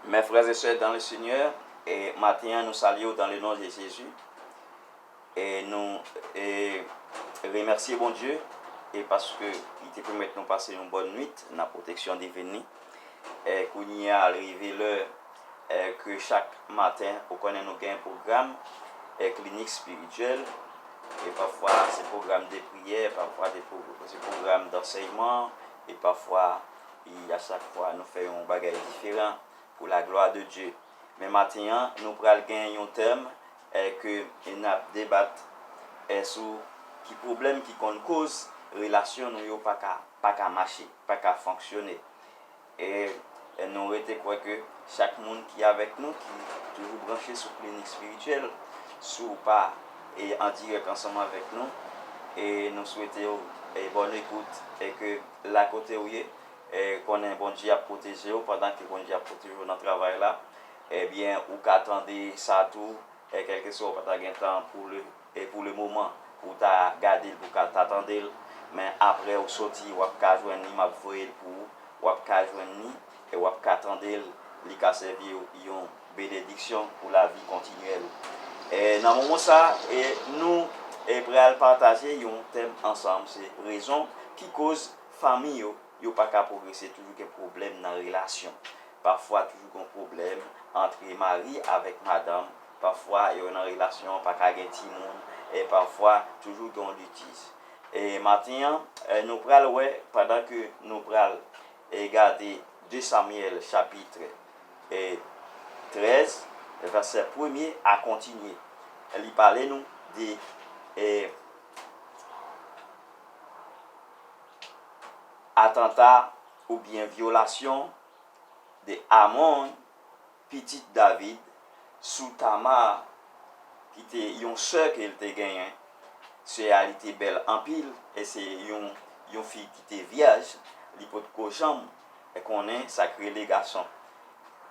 Mes frères et sœurs dans le Seigneur e maten an nou salyew dans le nom de Jésus e nou e remèsye Bondye e paske li te pèmèt nou pase yon bòn nwit nan pwoteksyon divin li e kounyea li rive lè e ke chak maten ou konnen nou gen pwogram e klinik spirityèl e pafwa se pwogram de priyè pafwa se pwogram dansèyman e pafwa. E a chak fwa nou fè yon bagay diferan pou la glwa de Dye. Men maten an nou pral gen yon tèm è ke nap debat è sou ki pwoblèm ki konn koz relasyon nou yo paka paka mache, paka fonksyone. E nou rete kwè ke chak moun ki avèk nou ki toujou branche sou klinik spirityèl si w pa e an dirèk ansanm avèk nou e nou swete w bòn ekout e ke la kotew ye konnen Bondye ap pwotejew pandan ke Bondye ap pwotejew nan travay la ebyen ou ka tande sa tou kèlkeswa ou pata gen tan pou le moman ou ta gadel pou ka ta tandel men aprè ou soti wap ka jwenn li map voyel pou ou wap ka jwenn li. E wap ka tandel, li ka sèviw yon benediksyon pou lavi kontinyèl ou. E nan moman sa, e nou e pral pataje yon tèm ansanm, se rezon ki koz fanmi yo, yo pa ka pwogrese toujou gen pwoblèm nan relasyon. Pafwa toujou gon pwoblèm antre mari avèk madanm, pafwa yo nan relasyon an pa ka gen timoun, e pafwa toujou gen yon litiz. E maten an, nou pral wè pandan ke nou pral E gade 2 Samyèl chapitre 13 vèsè premye a kontinye, li pale nou de atanta oubyen vyolasyon de Amon Pitit David, sou Tamar, ki te yon sè ke l te genyen, sè a li te bèl anpil, e se yon yon fi ki te vyèj, li potko janm konnen sa k rele gason.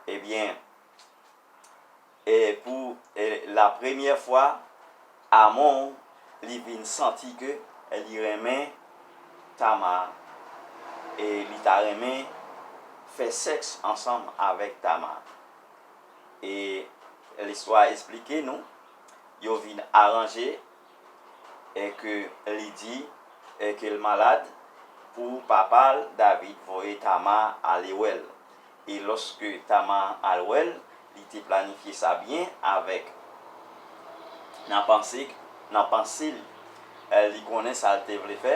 Ebyen, e pou lapremyè fwa. Amon li vin santi ke li renmen Tamar e li ta renmen fè sèks ansanm avèk Tamar. E listwa a esplike nou yo vin aranje e ke li di e ke l malad pou papa l David voye Tamar ale wè l. E lòske Tama al wè l, li te planifye sa byen avèk. Nan panse k, nan panse l, li konnen sa l te vle fè.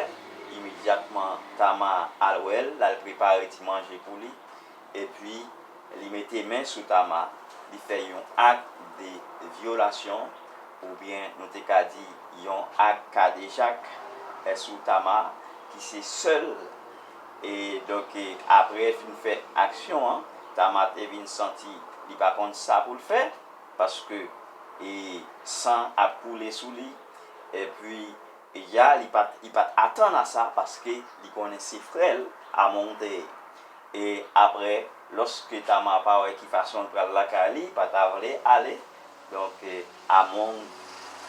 Imedyatman, Tama al wè l, l al prepare ti manje pou li. Epi, li mete men sou Tama, li fè yon ak de vyolasyon, oubyen nou te ka di yon ak kadejak, sou Tama, ki se sèl. e donk aprè fin fè aksyon an Tama te vin santi li pa konn sa poul fè paske san ap koule sou li epi ya li pat atann a sa paske li konnen se frèl Among te ye e aprè loske Tama pa wè ki fason l pral lakay li pa ta vle ale. Donk Among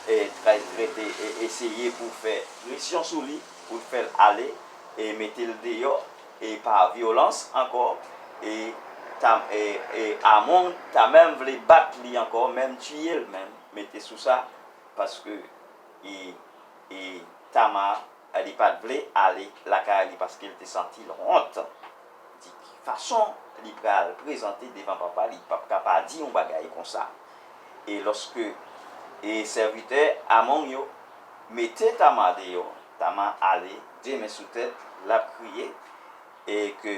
e try trete e eseye pou fè presyon sou li pou fè l ale e mete l deyò e pa vyolans ankò e ta e e Among ta menm vle bat li ankò menm tiye l menm mete sou sa paske e e Tama li pat vle ale lakay li paske l te santi l wont. di fason li pral prezante devan papa li pap ka pa di yon bagay konsa. E lòske e sèvitè Amon yo mete Tama deyò, Tama ale de men sou tèt, lap kriye, e ke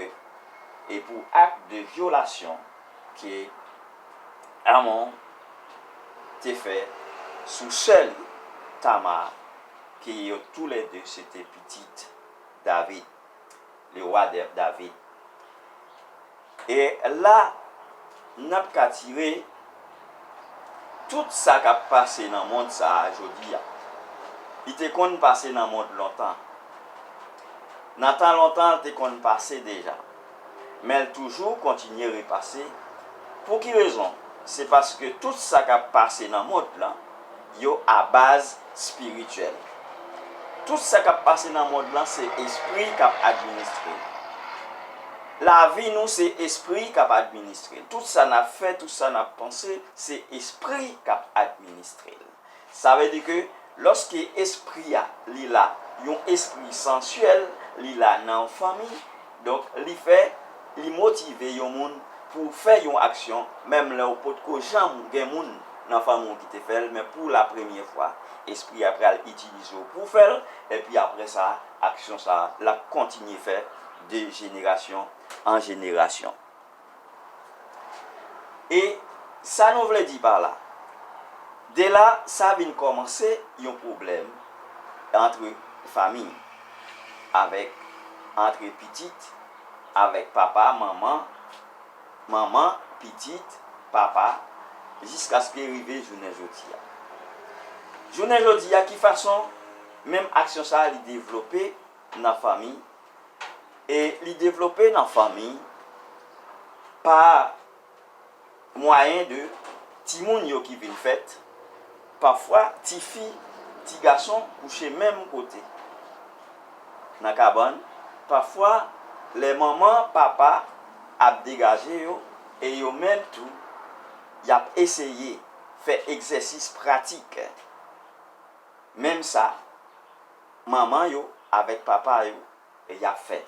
e pou ak de vyolasyon ke Amon te fè sou sè li, Tama, ke yo tou lè de se te pitit David. Le roi David. E la nap ka tire tout sa kap pase nan mond sa a jodi a. Li te konn pase nan mond lontan. Nan tan lontan l te konn pase deja. Men l toujou kontinye repase. Pou ki rezon? Se paske tout sa kap pase nan mond lan. yo a baz spirityèl. Tout sa kap pase nan mond lan se espri kap administre l. Lavi nou se espri kap administre l. Tout sa nap fè, tout sa nap panse se espri kap administre l. Sa vle di ke lòske espri a li la, yon espri sansyèl li la nan yon fanmi, Donk li fè, li motive yon moun pou w fè yon aksyon menm lè w potko janm gen moun nan fanmi w ki te fè l men pou la premye fwa espri a pral itilize w pou w fè l epi aprè sa aksyon sa l ap kontinye fè de jenerasyon an jenerasyon. E sa nou vle di pa la? De la, sa vin kòmanse yon pwoblèm antre fanmi, avèk antre pitit avèk papa, manman, manman, pitit, papa, jiskaske rive jounen jodi a. Jounen jodi a, ki fason menm aksyon sa a li devlope nan fanmi? e li devlope nan fanmi pa mwayen de timoun yo ki vin fèt, pafwa tifi, tigason kouche menm kote nan kabann, pafwa lè manman, papa ap degaje yo e yo menm tou y ap eseye fè egzèsis pratik menm sa. manman yo avèk papa yo y ap fè.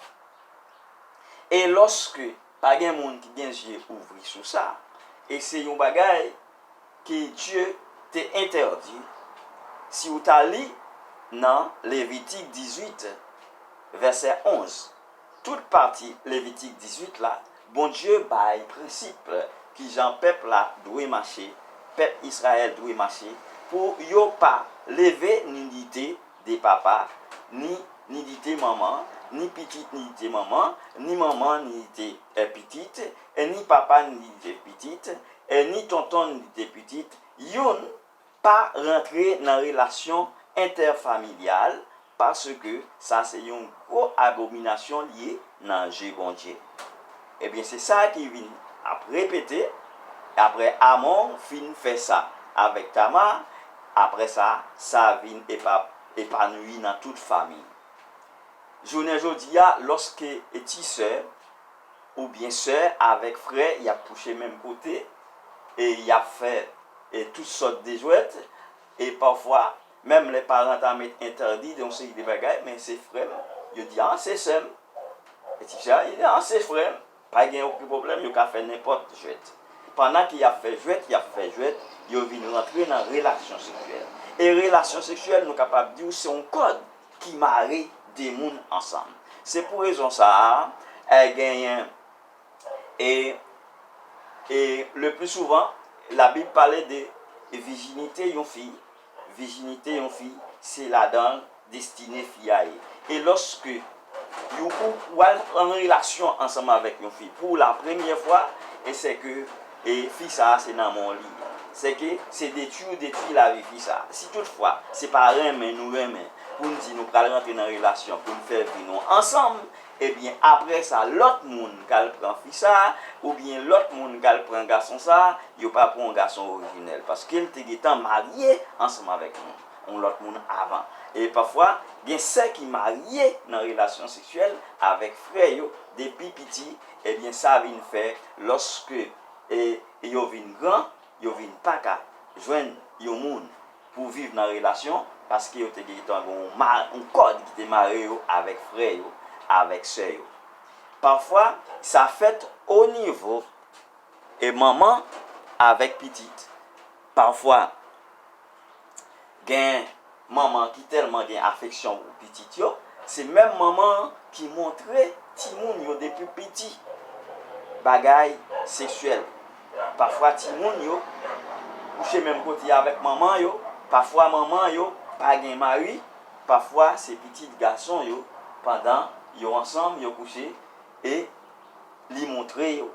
E lòske pa gen moun ki gen zye ouvri sou sa, e se yon bagay ke Dye te entèdi, si ou ta li nan Levitik 18, vèsè 11. Tout pati Levitik 18 la, Bondye bay prensip ki jan pèp la dwe mache, pèp Israël dwe mache, pou yo pa leve nidite de papa, ni nidite manman, ni pitit nidite manman, ni manman nidite pitit, ni papa nidite pitit, ni tonton nidite pitit, youn, Pa rantre nan relasyon entèfamilyal paske sa se yon gwo abominasyon l ye nan je Bondye. Ebyen se sa ki vin ap repete aprè Amon fin fè sa avèk Tama, aprè sa sa vin epanouyi nan tout famiy. Jounen jodi a lòske ti sè. oubyen sè avèk frè y ap kouche menm kote e y ap fè tout sòt de jwèt e pafwa menm lè paran ta met entèdi yon seri de bagay men se frè m yo di an se sè m e ti fi a di an se frè m pa gen okenn pwoblèm yo ka fè nenpòt jwèt pandan ke y ap fè jwèt y ap fè jwèt yo vin rantre nan relasyon seksyèl e relasyon seksyèl nou kapab di w se yon kòd. ki mare de moun ansanm. Se pou rezon sa a, genyen e e le pli souvan labib pale de vijinite yon fi, vijinite yon fi se ladan destine fi a ye. E lòske yon koup wal an relasyon ansanm avèk yon fi pou la premyè fwa, e sè ke e fi sa se nan men w li ye se ke se detwi ou detwi lavi fi sa si tout fwa se pa renmen nou renmen pou n di nou pral rantre nan relasyon pou n fè vi nou ansanm ebyen aprè sa lòt moun ka al pran fi sa oubyen lòt moun ka al pran gason sa yo pa pran yon gason orijinèl paske l te gentan marye ansanm avèk yon yon lòt moun avan e pafwa gen sè ki marye nan relasyon seksyèl avèk frè yo depi piti. Ebyen sa vin fè lòske yo vin gran, yo vin pa ka jwenn yon moun pou viv nan relasyon paske yo te gentan gen yon kòd ki te mare yo avèk frè yo, avèk sè yo. Pafwa sa fèt onivo manman avèk pitit. Pafwa. Gen manman ki tèlman gen afeksyon pou pitit yo, se menm manman an ki montre timoun yo depi piti bagay seksyèl. Pafwa timoun yo kouche menm kote avèk manman yo, pafwa manman yo pa gen mari, pafwa se pitit gason yo pandan yo ansanm yo kouche e li montre yo.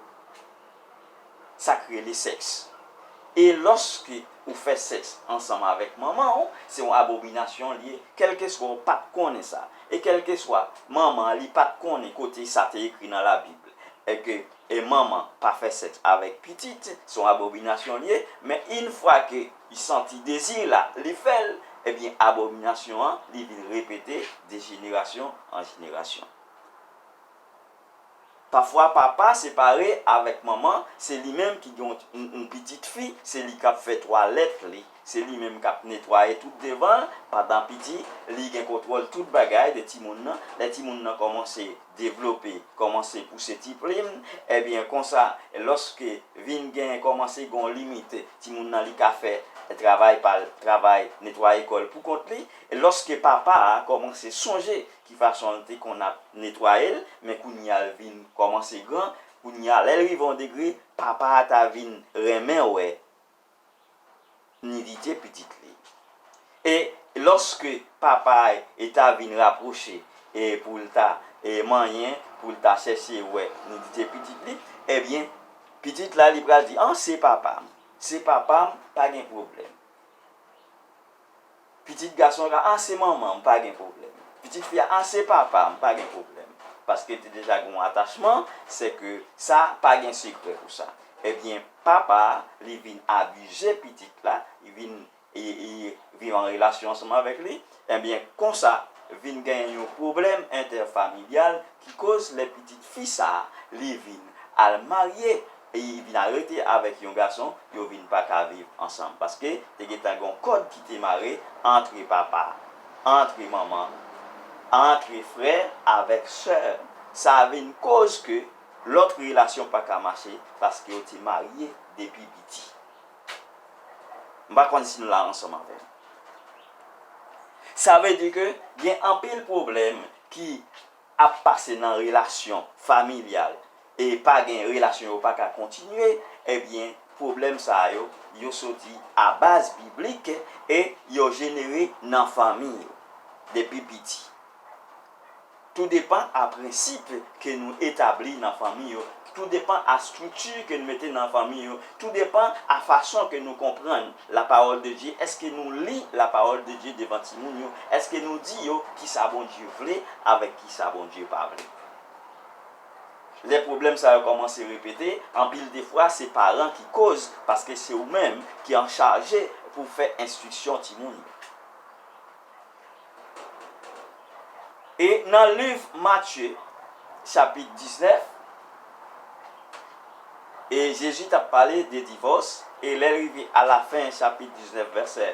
Sa k rele sèks. E lòske ou fè sèks ansanm avèk manman ou, se yon abominasyon li ye, kèlkeswa ou pa t konnen sa, e kèlkeswa manman an li pa t konnen kote sa te ekri nan Labib ke manman pa fè sèks avèk pitit, se yon abominasyon li ye, men infwa ke li santi dezi la, li fè l, ebyen abominasyon an li vin repete de jenerasyon an jenerasyon. Pafwa papa separe avèk manman, se li menm ki gen yon pitit fi, se li k ap fè twalèt li, se li menm k ap netwaye tout devan l pandan piti, li gen kontwòl tout bagay de timoun nan, lè timoun nan kòmanse devlope, kòmanse pouse ti plim, ebyen konsa lòske vin gen kòmanse gen yon limit, timoun nan li ka fè travay pa l, travay netwaye kò l pou kont li, lòske papa a kòmanse sonje Ki fason l te konn ap netwaye l, men kounye a l vin kòmanse gran, kounye a lè l rive yon degre, papa a ta vin renmen wè nidite pitit li. E lòske papa a e ta vin rapwoche e pou l ta e manyen, pou l ta chèche wè nidite pitit li, ebyen pitit la li pral di an se papa m, se papa m pa gen pwoblèm. Pitit gason an ka, ah se manman, m pa gen pwoblèm. Pitit fi a, ah se papa, m pa gen pwoblèm. Paske te deja gen yon atachman, se ke sa pa gen sekrè pou sa. Ebyen, papa a, li vin abize pitit la, li vin viv an relasyon ansanm avèk li, ebyen konsa vin gen yon pwoblèm entèfamilyal ki koz lè pitit fi sa a, li vin al marye. Epi li vin arete avèk yon gason, yo vin pa ka viv ansanm. Paske, te gentan gen yon kòd ki te mare antre papa, antre manman, antre frè avèk sè. Sa vin koz ke lòt relasyon pa ka mache paske yo te marye depi piti. M pa konn si nou la ansanm avè m. Sa vle di ke gen anpil pwoblèm ki ap pase nan relasyon familyal e pa gen relasyon yo pa ka kontinye ebyen pwoblèm sa yo yo soti a baz biblik e yo jenere nan fanmi yo depi piti tou depan a prensip ke nou etabli nan fanmi yo Tou depan a strikti ke nou mete nan fanmi yo, tou depan a fason ke nou konprann la pawòl de Dye, eske nou li la pawòl de Dye devan timoun yo, eske nou di yo kisa Bondye vle avèk kisa Bondye pa vle. Lè pwoblèm sa yo kòmanse repete, anpil de fwa se paran ki koz paske se ou menm ki anchaje pou fè enstriksyon timoun yo. E nan liv Matye, chapit 19, e Jezi t ap pale de divòs, e lè l rive alafen chapit 19 vèsè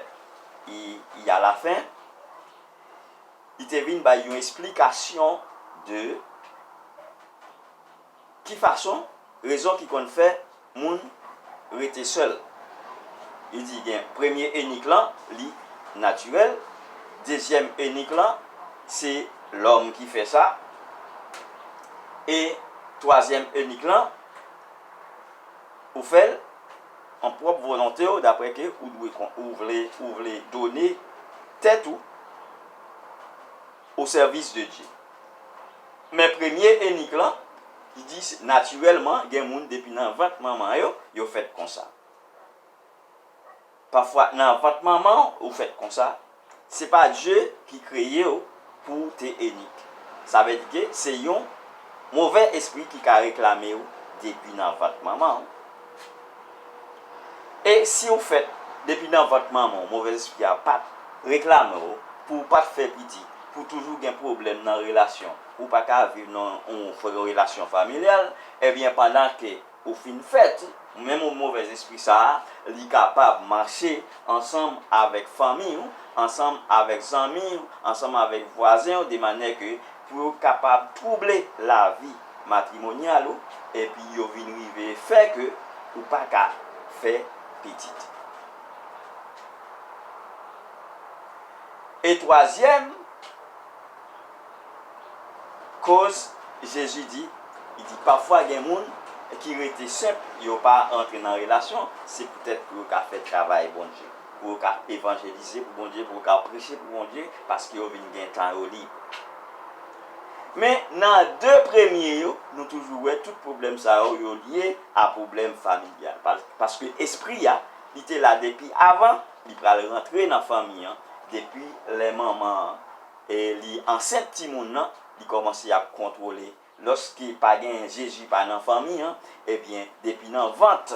i alafen, li te vin bay yon esplikasyon de ki fason, rezon ki konn fè. moun rete sèl. Li di gen premye enik lan li natirèl, dezyèm enik lan se lòm ki fè sa e twazyèm enik lan ou fè l an pwòp volonte w daprè ke ou dwe ou vle ou vle done tèt ou. Au service de Dieu. Men premye enik lan, li di se natirèlman gen moun depi nan vant manman yo, yo fèt konsa. Pafwa nan vant manman w ou fèt konsa, se pa Dye ki kreye w pou w te enik. Sa vle di ke se yon movè espri ki ka reklame w depi nan vant manman w. E siw fèt depi nan vant manman w movèz espri a pat reklame w pou w pat fè piti pou w toujou gen pwoblèm nan relasyon ou pa ka viv nan yon relasyon familyal ebyen pandan ke ou fin fèt menm movèz espri sa li kapab mache ansanm avèk fanmiy ou ansanm avèk zanmiy ou ansanm avèk vwazen w de manyè ke pou yo kapab twouble lavi matrimonyal ou epi yo vin rive fè ke ou pa ka fè pitit. E twazyèm koz Jezi di, li di pafwa gen moun ki rete senp, yo pa antre nan relasyon, se poutèt pou yo ka fè travay Bondye. pou yo ka evanjelize pou Bondye, pou yo ka preche pou Bondye, paske yo vin gen tan yo lib. Men, nan de premye yo, nou toujou wè tout pwoblèm sa yo, yo lye a pwoblèm familyal. Paske espri a, li te la depi avan, li pral rantre nan fanmi an, depi lè manman an li ansent timoun nan, li kòmanse ap kontwole Loske pa genyen Jezi pa nan fanmi an, ebyen depi nan vant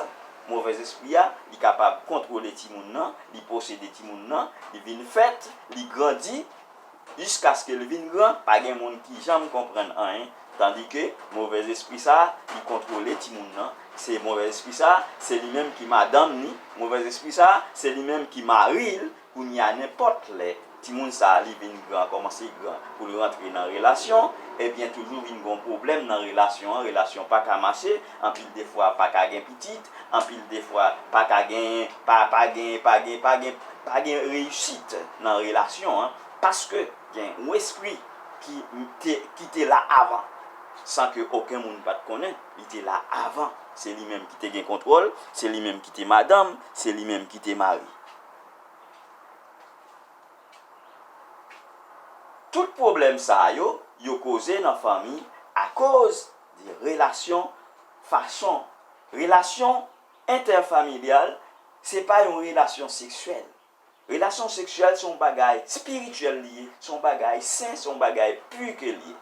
movèz espri a, li kapab kontwole timoun nan, li posede timoun nan, li vin fèt, li grandi jiskaske l vin gran, pa gen moun ki janm konprann anyen, tandike movèz espri sa li kontwole timoun nan, se movèz espri sa se li menm ki madanm ni, movèz espri sa se li menm ki mari l, Kounye a nenpòt lè timoun sa li vin gran kòmanse gran pou l rantre nan relasyon ebyen toujou vin gon pwoblèm nan relasyon an relasyon pa ka mache anpil de fwa pa ka gen pitit anpil de fwa pa ka genyen pa pa gen pa gen pa gen pa gen reyisit nan relasyon an paske gen yon espri ki te ki te la avan san ke oken moun pa t konnen li te la avan se li menm ki te gen kontwòl se li menm ki te madanm se li menm ki te mari. Tout pwoblèm sa yo, yo koze nan fanmi akoz de relasyon, fason relasyon entèfamilyal se pa yon relasyon seksyèl. Relasyon seksyèl se yon bagay spirityèl li ye, se yon bagay sen, se yon bagay pu ke li ye.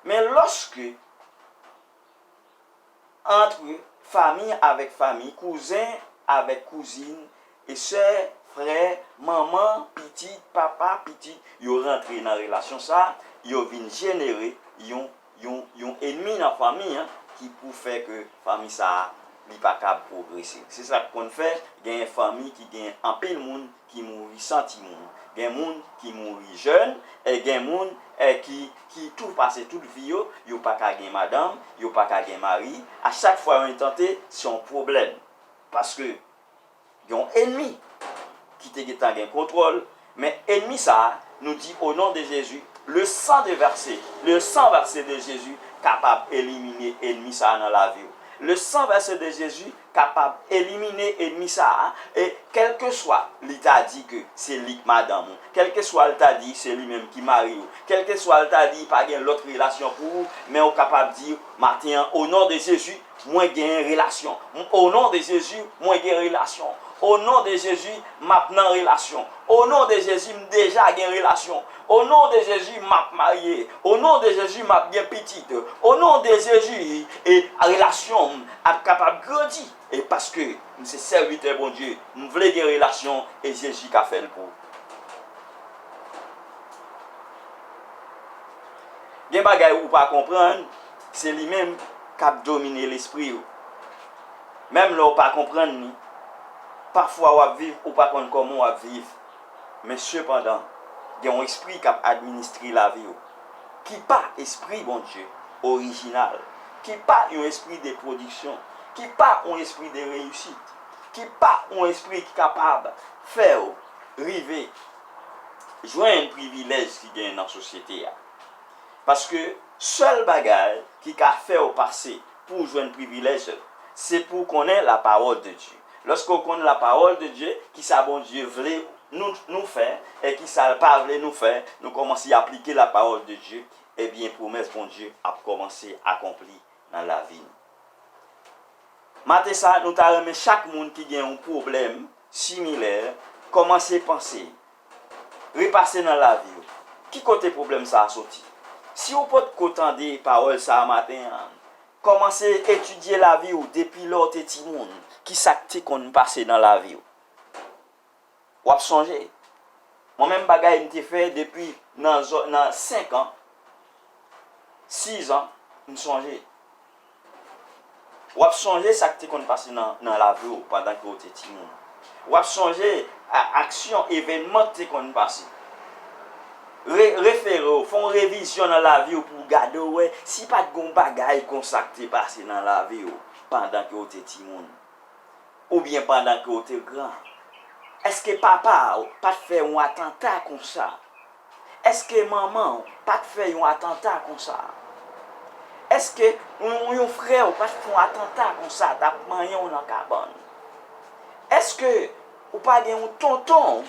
Men lòske. antre famiy avèk famiy, kouzen avèk kouzin, e sè, frè, manman, pitit, papa, pitit, yo rantre nan relasyon sa, yo vin jenere yon, yon, yon enmi nan famiy an ki pou fè ke famiy sa li pa kab pwogrese. Se sa k konn fè genyen famiy ki genyen anpil moun ki mouri san timoun, gen moun ki mouri jèn, e gen moun ki ki tou pase tout vi yo, yo pa ka gen madanm, yo pa ka gen mari, a chak fwa yon tante se yon pwoblèm, paske gen yon enmi ki te gentan gen kontwòl, men enmi sa a nou di o non de Jezi, le san de vèse, le san vèse de Jezi kapab elimine enmi sa a nan lavi ou, le san vèse de Jezi kapab elimine enmi sa a e kèlkeswa li ta di ke se li k madanm ou, kèlkeswa l ta di se li menm ki mari ou, kèlkeswa l ta di pa gen lòt relasyon pou ou, men ou kapab di maten an o non de Jezi mwen genyen relasyon, o non de Jezi mwen gen relasyon, o non de Jezi m ap nan relasyon, o non de Jezi m deja gen relasyon, O non de Jezi map marye O non de Jezi map gen pitit O non de Jezi e relasyon m ap kapab grandi e paske m se sèvitè Bondye m vle gen relasyon e Jezi ka fèl pou Gen bagay ou pa konprann se li menm kap domine lespri ou menm lè ou pa konprann li pafwa wap viv ou pa konn kòman wap viv. Men sepandan, gen yon espri k ap administre lavi w, ki pa espri Bondye, orijinal, ki pa yon espri de pwodiksyon, ki pa yon espri de reyisit, ki pa yon espri ki kapab fè w rive jwenn privilèj ki genyen nan sosyete a. Paske, sèl bagay ki ka fè w pase pou w jwenn privilèj, se pou w konnen Lapawòl de Dye. Lòske w konn la pawòl de Dye, ki sa Bondye vle nou nou fè e ki sa l pa vle nou fè, nou kòmanse aplike la pawòl de Dye, ebyen pwomès Bondye ap kòmanse akonpli nan lavi nou. Maten sa nou ta renmen chak moun ki gen yon pwoblèm similè kòmanse panse, repase nan lavi w, ki kote pwoblèm sa a soti? Si w potko tande pawòl sa a maten an, Kòmanse etidye lavi w depi lè w te timoun. Ki sa k te konn pase nan lavi w? W ap sonje? Mwen menm bagay m te fè depi nan zòn nan senk an, siz an, m sonje. W ap sonje sa k te konn pase nan nan lavi w pandan ke w te timoun. W ap sonje a aksyon, evènman k te konn pase. Re, refere w, fè yon revizyon nan lavi w pou w gade w wè si pa t gen yon bagay konsa k te pase nan lavi w pandan ke w te timoun. Oubyen pandan ke w te gran. Èske papa w pa t fè yon atanta konsa? Eske manman w pat fè yon atanta konsa? Eske yon frè w pat fon atanta konsa tap manyen w nan kabann? Eske ou pa gen yon tonton w